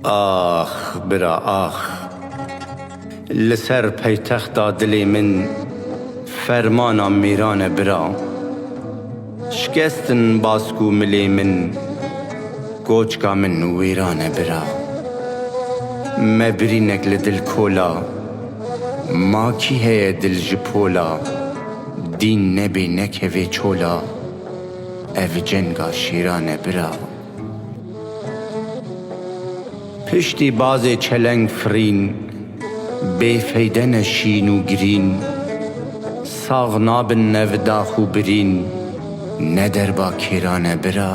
Ax bira ax! Li ser paytexta dilê min fermana mêran e bira. Şikestin bask û milê min, koçka min wêran e bira. Me birînek li dil kola, ma kî heye dil ji pola, dîn nebê nekevê çola, ev cenga şêran e bira. Piştî bazê çeleng firîn, bêfeyde ne şîn û girîn, sax nabin ne vi dax û birîn, ne derba kêra ne bira.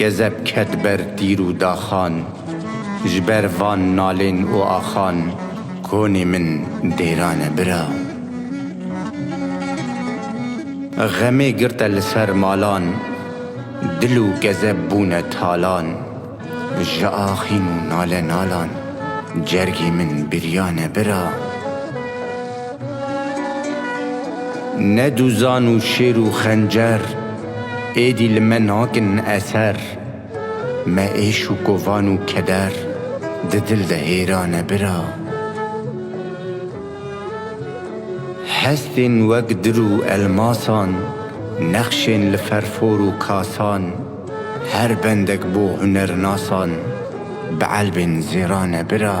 Gezeb ket ber tîr û daxan. Ji ber van nalên û axan. Konê min dêrane bira. Xemê girte li ser malan. Dil û gezeb bûne talan. Ji axîn û nale nalan. Cergê min biryane bira. Ne duzan û şêr û xencer êdî li me nakin eser, Me êş û kovan û keder di dil de hêrane bira. Hestên wek dir û elmasan, nexşên li ferfor û kasan, Her bendek bo hunernasan, bi elbên zêrane bira.